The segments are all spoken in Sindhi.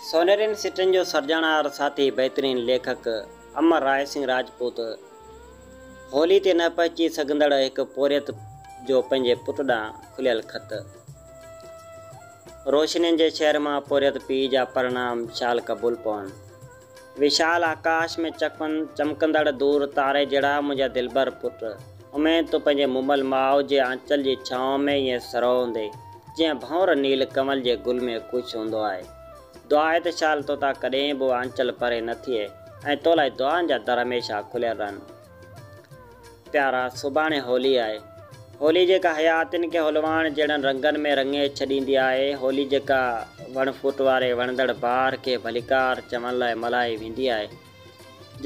سونهرين سٽن جو سرجڻهار ساٿي بهترين ليکڪ امر راء سنگهه راجپوت هولي تي نه پهچي سگهندڙ هڪ پورهيت جو پنهنجي پٽ ڏانهن کليل خط روشنين جي شهر مان پورهيت پيء جا پرڻام شال قبول پون. وشال آڪاش ۾ چڪن چمڪندڙ دور تاري جهڙا منهنجا دلبر پٽ. اميد تون پنهنجي مومل ماء جي آنچل جي ڇانو ۾ ائين سرهو هوندي، جيئن ڀنور نيل ڪنول جي گل ۾ خوش هوندو آهي. دعا آهي ته شال توتان ڪڏهن به اها آنچل پري نه ٿئي ۽ تو لاء دعائن جا در هميشه کليل رهن. پيارا! سڀاڻي هولي آهي. هولي جيڪا حياتين کي هولواڻ جهڙن رنگن ۾ رڱي ڇڏيندي آهي، هولي جيڪا وڻ ڦوٽ واري وڻندڙ بهار کي ڀليڪار چوڻ لاء ملهائي ويندي آهي،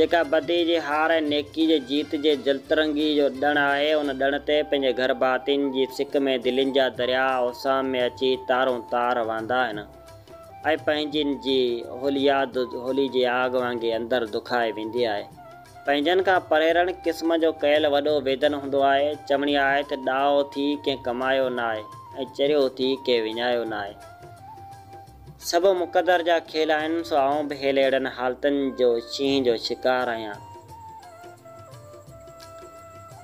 جيڪا بدي جي هار ۽ نيڪي جي جيت جي جلترنگي جو ڏڻ آهي، ان ڏڻ تي پنهنجي گهر ڀاتين جي سڪ ۾ دلين جا درياء اوسان ۾ اچي تارون تار وهندا آهن ۽ پنهنجين جي هولي ياد هولي جي آگ وانگي اندر دکائي ويندي آهي. پنهنجن کان پريرڻ قسم جو ڪيل وڏو ويدن هوندو آهي. چوڻي آهي ته ڏاهو ٿي ڪنهن ڪمايو ناهي ۽ چريو ٿي ڪنهن وڃايو ناهي. سڀ مقدر جا کيل آهن سو آئون به هيل اهڙن حالتن جو شينهن جو شڪار آهيان.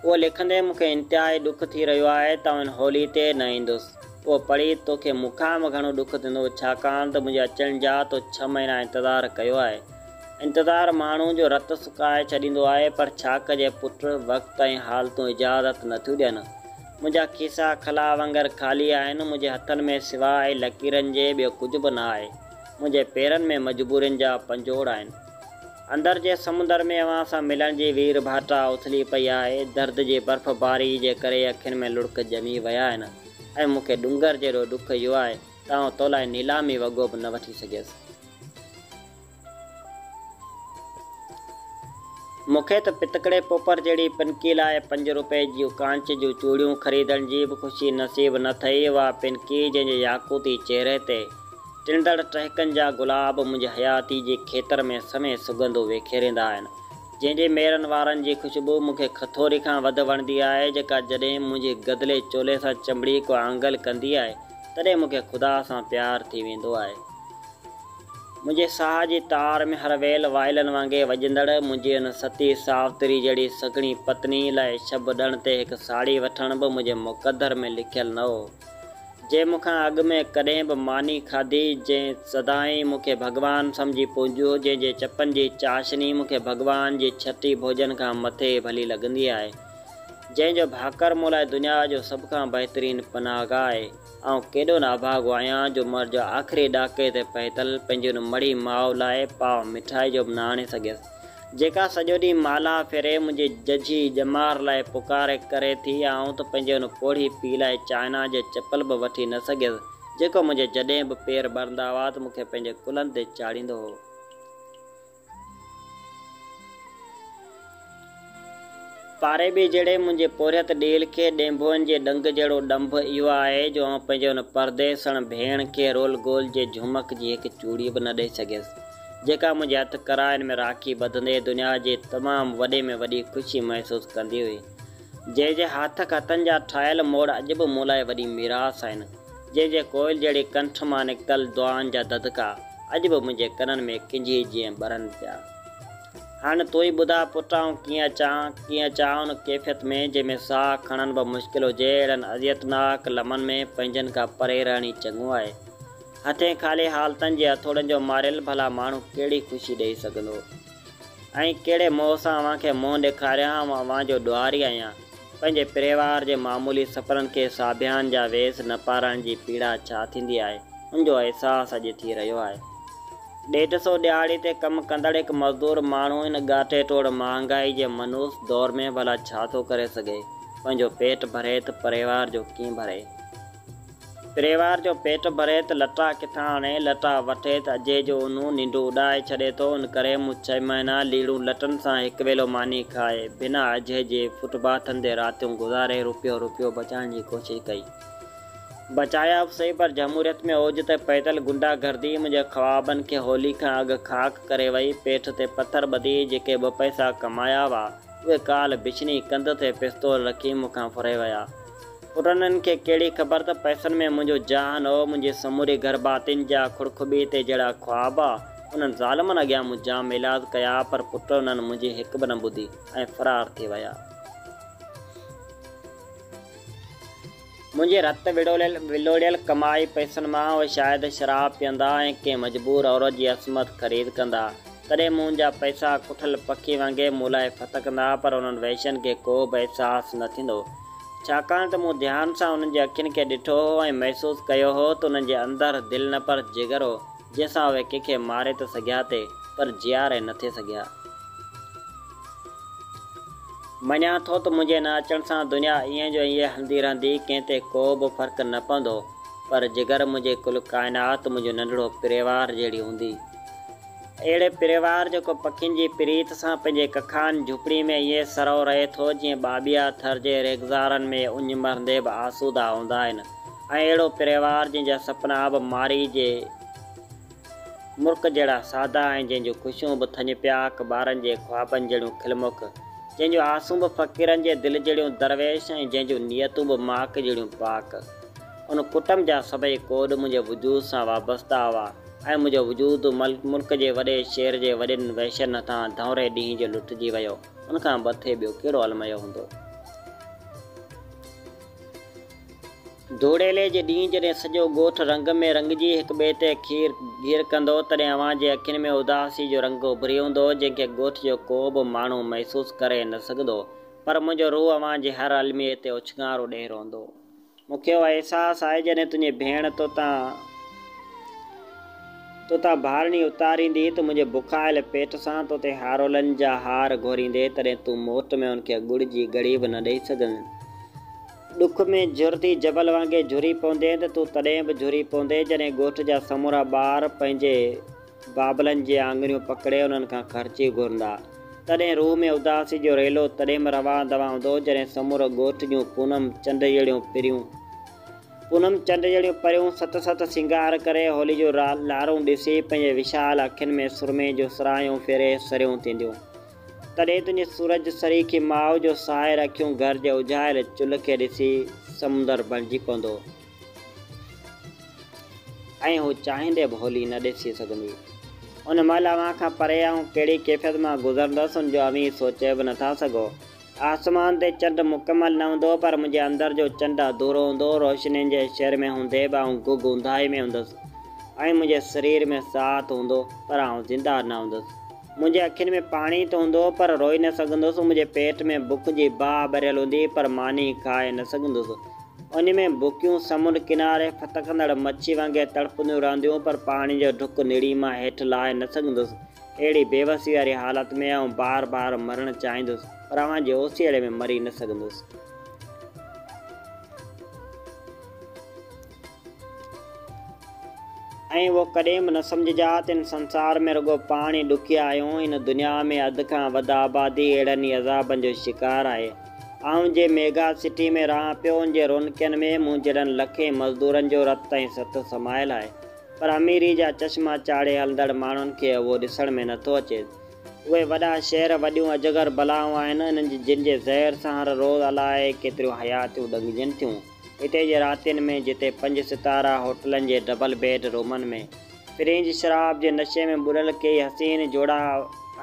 اهو لکندي مون کي انتهائي ڏک ٿي رهيو آهي ته آئون هولي تي نه ايندس. اهو پڙهي توکي مون کان به گهڻو ڏک ٿيندو ڇاڪاڻ ته منهنجي اچڻ جا تو ڇهه مهينا انتظار ڪيو آهي. انتظار ماڻهو جو رت سڪائي ڇڏيندو آهي پر ڇا ڪجي پٽ وقت ۽ حالتون اجازت نه ٿيون ڏين. منهنجا کيسا خلا وانگر خالي آهن، منهنجي هٿن ۾ سواء لڪيرن جي ٻيو ڪجهه به نه آهي، منهنجي پيرن ۾ مجبورين جا پنجوڙ آهن. اندر جي سمنڊر ۾ اوهان سان ملڻ جي وير ڀاٽا اٿلي پئي آهي، درد جي برف باري جي ڪري اکين ۾ لڙڪ ڄمي ويا آهن ۽ مون کي ڏونگر جيڏو ڏک اهو آهي، ته آئون تو لاء نيلامي وڳو به نه وٺي سگهيس. مون کي ته پتڪڙي پوپر جهڙي پنڪي لاء پنج روپئي جون ڪانچ جون چوڙيون خريدڻ جي به خوشي نصيب نه ٿئي. اها پنڪي جنهن جي ياقوتي چهري تي ٽڙندڙ ٽهڪن جا گلاب منهنجي حياتي جي کيتر ۾ سوين سڳنڌون وکيريندا آهن. جنهن جي ميرن وارن جي خوشبو مون کي کٿوري کان وڌ وڻندي آهي، جيڪا جڏهن منهنجي گدلي چولي سان چنبڙي ڪو آنگل ڪندي آهي، تڏهن مون کي خدا سان پيار ٿي ويندو آهي. منهنجي ساهه جي تار ۾ هر ويل وائلن وانگي وڄندڙ منهنجي ان ستي ساوتري جهڙي سگهڙي پتني لاء شڀ ڏڻ تي هڪ ساڙهي وٺڻ به منهنجي مقدر ۾ لکيل نه هو. جنهن مون کان اڳ ۾ ڪڏهن به ماني کاڌي، جنهن سدائين مون کي ڀڳوان سمجهي پونجيو هو، جنهن جي چپن جي چاشني مون کي ڀڳوان جي ڇٽي ڀوڄن کان مٿي ڀلي لڳندي آهي. جنهن جو ڀاڪر مون لاء دنيا جو سڀ کان بهترين پناهگاهه آهي. آئون ڪيڏو نه اڀاڳو آهيان جو عمر جي آخري ڏاڪي تي پهتل پنهنجي ان مڙهي ماء لاء پاء مٺائي جو به نه آڻي سگهيس، جيڪا سڄو ڏينهن مالها ڦري منهنجي ججهي ڄمار لاء پڪاري ڪري ٿي. آئون ته پنهنجي ان پوڙهي پيء لاء چائنا جي چپل به وٺي نه سگهيس، جيڪو منهنجي جڏهن به پير ٻرندا هئا ته مون کي پنهنجي ڪلهن تي چاڙهيندو هو. پاري ٻي جهڙي منهنجي پورهيت ڏيل کي ڏينڀوئن جي ڏنگ جهڙو ڏنڀ اهو آهي جو آئون پنهنجي ان پرديسڻ ڀيڻ کي رول گول جي جهمڪ جي هڪ چوڙي به نه ڏئي سگهيس، جيڪا منهنجي هٿ ڪرائن ۾ راکي ٻڌندي دنيا جي تمام وڏي ۾ وڏي خوشي محسوس ڪندي هئي. جنهن جي هاٿ کاتن جا ٺاهيل موڙ اڄ به مون لاء وڏي ميراث آهن، جنهن جي ڪوئل جهڙي ڪنٺ مان نڪتل دعائن جا دڌڪا اڄ به منهنجي ڪنن ۾ ڪنجهي جيئن ٻرن پيا. هاڻ تون ئي ٻڌاء پٽ آئون ڪيئن اچان، ڪيئن اچان ان ڪيفيت ۾ جنهن ۾ ساهه کڻڻ به مشڪل هجي، اهڙن اذيتناڪ لمحن ۾ پنهنجن کان پري رهڻ ئي چڱو آهي. هٿين خالي حالتن جي هٿوڙن جو ماريل ڀلا ماڻهو ڪهڙي خوشي ڏئي سگهندو. ۽ ڪهڙي موهه سان اوهان کي منهن ڏيکاريان ها مان اوهان جو ڏوهاري آهيان پنهنجي پريوار جي معمولي سفرن کي ساڀيان جا ويس نه پارائڻ جي پيڙا ڇا ٿيندي آهي ان جو احساس اڄ ٿي رهيو آهي ڏيڍ سو ڏهاڙي تي ڪم ڪندڙ هڪ مزدور ماڻهو ان ڳاٽي ٽوڙ مهانگائي جي منحوس دور ۾ ڀلا ڇا ٿو ڪري سگهي پنهنجو پيٽ ڀري ته پريوار جو ڪيئن ڀري. پريوار جو پيٽ ڀري ته لٽا ڪٿان آڻي، لٽا وٺي ته اجهي جو اونهون ننڊون اڏائي ڇڏي ٿو، ان ڪري مون ڇهه مهينا ليڙون لٽن سان هڪ ويلو ماني کائي، بنا اجهي جي فٽ باٿن تي راتيون گذاري روپيو روپيو بچائڻ جي ڪوشش ڪئي. بچايا به سهي پر جمهوريت ۾ اوج تي پهتل غنڊا گردي منهنجي خوابن کي هولي کان اڳ خاڪ ڪري وئي، پيٺ تي پٿر ٻڌي جيڪي ٻه پئسا ڪمايا هئا، اهي ڪالهه بڇني ڪنڌ تي پستول رکي مون کان ڦري ويا. پرنھن کي ڪھڙي خبر ته پئسن ۾ منھنجو جھان ھو، منھنجي سموري گھرڀاتين جا کڙکٻي تي جھڙا خواب ھئا، انھن ظالمن اڳيان مون جام ايلاز ڪيا، پر پٽ انھن منھنجي ھڪ به نه ٻڌي ۽ فرار ٿي ويا. منھنجي رت ولوڙيل ڪمائي پئسن مان اھي شايد شراب پيئندا ۽ ڪنھن مجبور عورت جي عصمت خريد ڪندا. تڏهن مون جا پئسا ڪٺل پکي وانگي مون لاء ڦٿڪندا پر انهن وحشين کي ڪو به احساس نه ٿيندو ڇاڪاڻ ته مون ڌيان سان انهن جي اکين کي ڏٺو هو ۽ محسوس ڪيو هو ته انهن جي اندر دل نه پر جگر هو جنهن سان اهي ڪنهن کي ماري ته سگهيا تي پر جياري نه ٿي سگهيا. مڃان ٿو ته منهنجي نه اچڻ سان دنيا ائين جو ائين هلندي رهندي ڪنهن تي ڪو به فرق نه پوندو پر جگر منهنجي ڪل ڪائنات منهنجو ننڍڙو پريوار جهڙي هوندي. اهڙي پريوار جيڪو پکين جي پريت سان پنهنجي ڪکان جهوپڙي ۾ ائين سرئو رهي ٿو جيئن ٻاٻيها ٿر جي ريگزارن ۾ اڃ مرندي به آسودا هوندا آهن ۽ اهڙو پريوار جنهن جا سپنا به مارئي جي مرڪ جهڙا سادا ۽ جنهن جون خوشيون به ٿڃ پياڪ ٻارن جي خوابن جهڙيون کلمک جنهن جون آسون به فقيرن جي دل جهڙيون درويش ۽ جنهن جون نيتون به ماڪ جهڙيون پاڪ ان ڪٽنب جا سڀئي ڪوڏ منهنجي وجود سان وابسته هئا. ۽ منهنجو وجود ملڪ جي وڏي شهر جي وڏين وحشين هٿان ڌؤنري ڏينهن جو لٽجي ويو، ان کان مٿي ٻيو ڪهڙو الميو هوندو؟ ڌوڙيلي جي ڏينهن جڏهن سڄو ڳوٺ رنگ ۾ رنگجي هڪ ٻئي تي کير گهير ڪندو، تڏهن اوهان جي اکين ۾ اداسي جو رنگ اڀري هوندو، جنهن کي ڳوٺ جو ڪو به ماڻهو محسوس ڪري نه سگهندو، پر منهنجو روح اوهان جي هر الميي تي اڇنگارو ڏيئي روئندو. مون کي اهو احساس آهي جڏهن تنهنجي ڀيڻ توتان توتان ڀارڻي اتاريندي ته منهنجي بکايل پيٽ سان توتي هارولن جا هار گهوريندي تڏهن تون موٽ ۾ ان کي ڳڙ جي گهڙي به نه ڏئي سگهندين. ڏک ۾ جهرتي جبل وانگي جهري پوندين ته تون تڏهن به جهري پوندين جڏهن ڳوٺ جا سمورا ٻار پنهنجي بابلن جي آڱريون پڪڙي انهن کان خرچي گهرندا. تڏهن روح ۾ اداسي جو ريلو تڏيم روان دوان هوندو جڏهن سمورو ڳوٺ جون پونم چنڊ جهڙيون پريون پونم چنڊ جهڙيون پريون ست ست سينگار ڪري هولي جون لارون ڏسي پنهنجي وشال اکين ۾ سرمي جون سراهيون ڦيري سريون ٿينديون. تڏهن تنهنجي سورج سريکي ماء جو ساحر اکيون گهر جي اجهايل چلهه کي ڏسي سمنڊر بڻجي پوندو. ۽ هو چاهيندي به هولي نه ڏسي سگهندي. ان مهل اوهان کان پري آئون ڪهڙي ڪيفيت مان گذرندس ان جو اوهين سوچي به نٿا سگهو. آسمان تي چنڊ مڪمل نه هوندو پر منهنجي اندر جو چنڊ اڌورو هوندو. روشنين جي شهر ۾ هوندي به آئون گگ اونداهي ۾ هوندس ۽ منهنجي سرير ۾ ساهت هوندو پر آئون زنده نه هوندس. منهنجي اکين ۾ پاڻي ته هوندو هو پر روئي نه سگهندو هوس، منهنجي پيٽ ۾ بک جي باهه ٻريل هوندي هئي پر ماني کائي نه سگهندو هوس. انهي ۾ بکيون سمنڊ ڪناري ڦٿڪندڙ مڇي وانگي تڙپنديون رهنديون هيون پر پاڻي جو ڍڪ نڙي مان هيٺ لاهي نه سگهندو هوس. اهڙي بيوسي واري حالت ۾ آئون بار بار مرڻ چاهيندو هوس پر اوهان جي اوسيئڙي ۾ مري نه سگهندو هوس. ائين اهو ڪڏهن به نه سمجهجاء ته هن سنسار ۾ رڳو پاڻ ئي ڏکيا آهيون، هن دنيا ۾ اڌ کان وڌ آبادي اهڙن ئي عذابن جو شڪار آهي. آئون جنهن ميگا سٽي ۾ رهان پيو، ان جي رونقين ۾ مون جهڙن لکين مزدورن جو رت ۽ ست سمايل آهي، پر اميري جا چشما چاڙهي هلندڙ ماڻهن کي اهو ڏسڻ ۾ نه ٿو اچي. اهي وڏا شهر وڏيون اجگر بلائون آهن، انهن جي زهر سان هر روز الائي ڪيتريون حياتيون ڏنگجن ٿيون. هتي جي راتين ۾ جتي پنج ستارا هوٽلن جي ڊبل بيڊ رومن ۾ فرينچ شراب جي نشي ۾ ٻڏل ڪيئي حسين جوڙا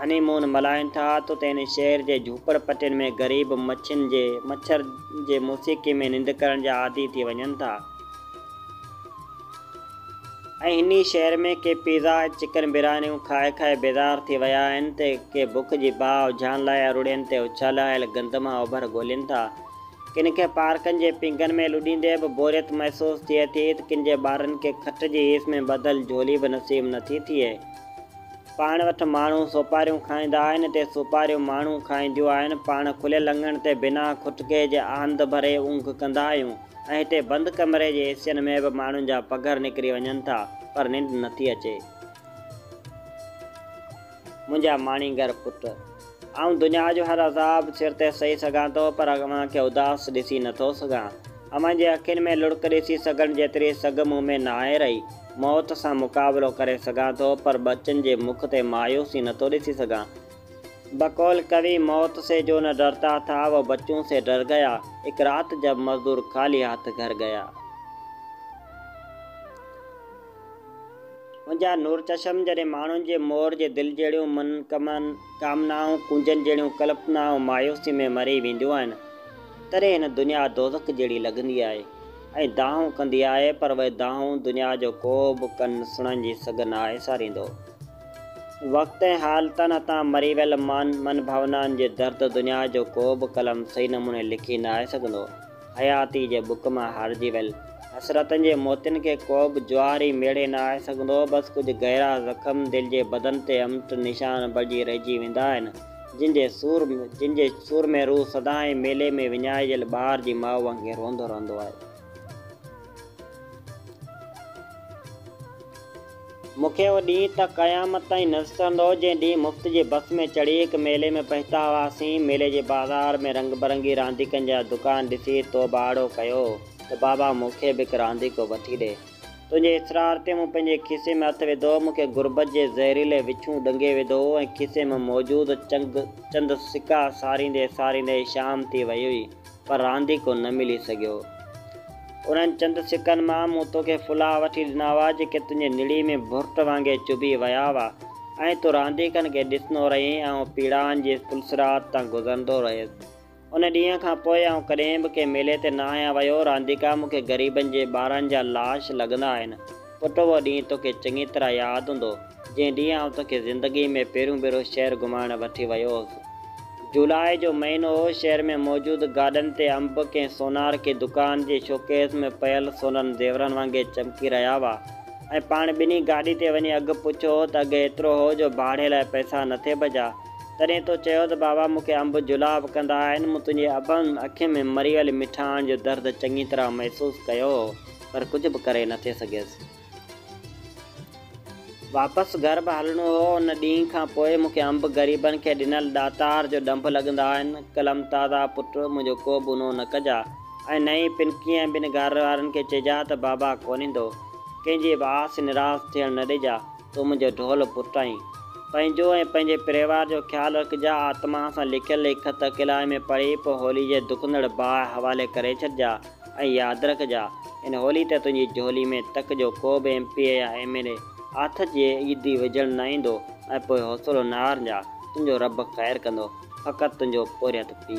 هني مون ملهائين ٿا ته اتي هن شهر جي جهوپڙ پٽين ۾ غريب مڇين جي مڇر جي موسيقي ۾ ننڊ ڪرڻ جا عادي ٿي وڃن ٿا ۽ هني شهر ۾ ڪي پيزا ۽ چڪن بريانيون کائي کائي بيزار ٿي ويا آهن ته ڪي بک جي باهه اجهائڻ لاء اروڙين تي اڇلايل گندم ۽ اوڀر ڳولين ٿا. ڪن کي پارڪن جي پينگهن ۾ لڏيندي به بوريت محسوس ٿئي ٿي ته ڪن جي ٻارن کي کٽ جي هيس ۾ ٻڌل جهولي به نصيب نه ٿي ٿئي. پاڻ وٽ ماڻهو سوپاريون کائيندا آهن اتي سوپاريون ماڻهو کائينديون آهن. پاڻ کليل اڱڻ تي بنا کٽڪي جي آنڌ ڀري اونگهه ڪندا آهيون ۽ هتي بند ڪمري جي اي سين ۾ به ماڻهن جا پگهر نڪري وڃن ٿا پر ننڊ نه ٿي اچي. منهنجا ماڻيگر پٽ! آئون دنيا جو هر عذاب سر تي سهي سگهان ٿو، پر اوهان کي اداس ڏسي نه ٿو سگهان. اوهان جي اکين ۾ لڙڪ ڏسي سگهڻ جيتري سگهه مون ۾ ناهي رهي. موت سان مقابلو ڪري سگهان ٿو، پر ٻچن جي مک تي مايوسي نه ٿو ڏسي سگهان. بقول ڪوي، موت سي جو نه ڊرتا ٿا، وو بچون سي ڊر گيا. اک رات جب مزدور خالي هاٿ گهر گيا. منهنجا نور چشم جڏهن ماڻهن جي مور جي دل جهڙيون من ڪمن ڪامنائون ڪونجن جهڙيون ڪلپنائون مايوسي ۾ مري وينديون آهن تڏهن هن دنيا دوزخ جهڙي لڳندي آهي ۽ دانهون ڪندي آهي پر اهي دانهون دنيا جو ڪو به ڪن سڻن جي سگهه ناهي ساريندو وقت ۽ حالتن هٿان مري ويل مان من ڀاونائن جي درد دنيا جو ڪو به قلم صحيح نموني لکي ناهي سگهندو. حياتيء جي بک مان هارجي ويل حسرتن جي موتين کي ڪو به جوار ئي ميڙي نه آهي سگهندو. بس ڪجهه گهرا زخم دل جي بدن تي امٽ نشان بڻجي رهجي ويندا آهن، جن جي سور جن جي سور ۾ روح سدائين ميلي ۾ وڃائجيل ٻار جي ماء وانگي روئندو رهندو آهي. مون کي اهو ڏينهن ته قيامت تائين نه وسرندو، جنهن ڏينهن مفت جي بس ۾ چڙهي هڪ ميلي ۾ پهتا هئاسين. ميلي جي بازار ۾ رنگ برنگي رانديڪن جا دڪان ڏسي توباهڙو ڪيو ته بابا مون کي به هڪ رانديڪو وٺي ڏي. تنهنجي اصرار تي مون پنهنجي کيسي ۾ هٿ وڌو. مون کي غربت جي زهريلي وڇون ڏنگي وڌو هو ۽ کيسي ۾ موجود چند سڪا ساريندي ساريندي شام ٿي وئي هئي. پر رانديڪو نه ملي سگهيو. انهن چند سڪن مان مون توکي ڦلا وٺي ڏنا هئا، جيڪي تنهنجي نڙي ۾ ڀرٽ وانگي چڀي ويا هئا ۽ تون رانديڪن کي ڏسندو رهين. آئون پيڙائن جي پلسرات تان گذرندو رهيس. ان ڏينهن کان پوء آئون ڪڏهن به ڪنهن ميلي تي نه آهيان ويو. رانديڪا مون کي غريبن جي ٻارن جا لاش لڳندا آهن. پٽ اهو ڏينهن توکي چڱي طرح ياد هوندو، جنهن ڏينهن آئون توکي زندگيء ۾ پهريون ڀيرو شهر گهمائڻ وٺي ويو هوس. جولاء جو مهينو هو، شهر ۾ موجود گاڏن تي انب ڪنهن سونار ڪنهن دڪان جي شوڪيس ۾ پيل سونرن زيورن وانگي چمڪي رهيا هئا ۽ پاڻ ٻنهي گاڏي تي وڃي اگهه پڇيو هو ته اگهه ايترو هو جو ڀاڙي لاء پئسا نه ٿي بچا تڏهن تو چيو ته بابا مون کي انب جولاء وڪندا آهن مون تنهنجي اڀن اکين ۾ مري ويل مٺاڻ جو درد چڱي طرح محسوس ڪيو هو. پر ڪجهه به ڪري نه ٿي سگهيس. واپس گهر به هلڻو هو. ان ڏينهن کان پوء مون کي انب غريبن کي ڏنل ڏاتار جو ڏنڀ لڳندا آهن. قلم تازا پٽ، منهنجو ڪو به اونهو نه ڪجاء ۽ نه ئي پن ڪنهن ٻن گهر وارن کي چئجاء ته بابا ڪونهيندو. ڪنهن جي به آس نراس ٿيڻ نه ڏجاء. تون منهنجو ڍول پٽ آهين. پنهنجو ۽ پنهنجي پريوار جو خيال رکجاء. آتما سان لکيل هي خط اڪيلائي ۾ پڙهي پوء هولي جي دکندڙ باهه حوالي ڪري ڇڏجاء. ۽ ياد رک جا ان هولي ته تنهنجي جهولي ۾ تڪ جو ڪو به ايم پي اي يا ايم ايل اي آٿت جي عيدي وجهڻ نه ايندو ۽ پوء حوصلو نه هارنجا تنهنجو رب خير ڪندو فقط تنهنجو پورهيت پي.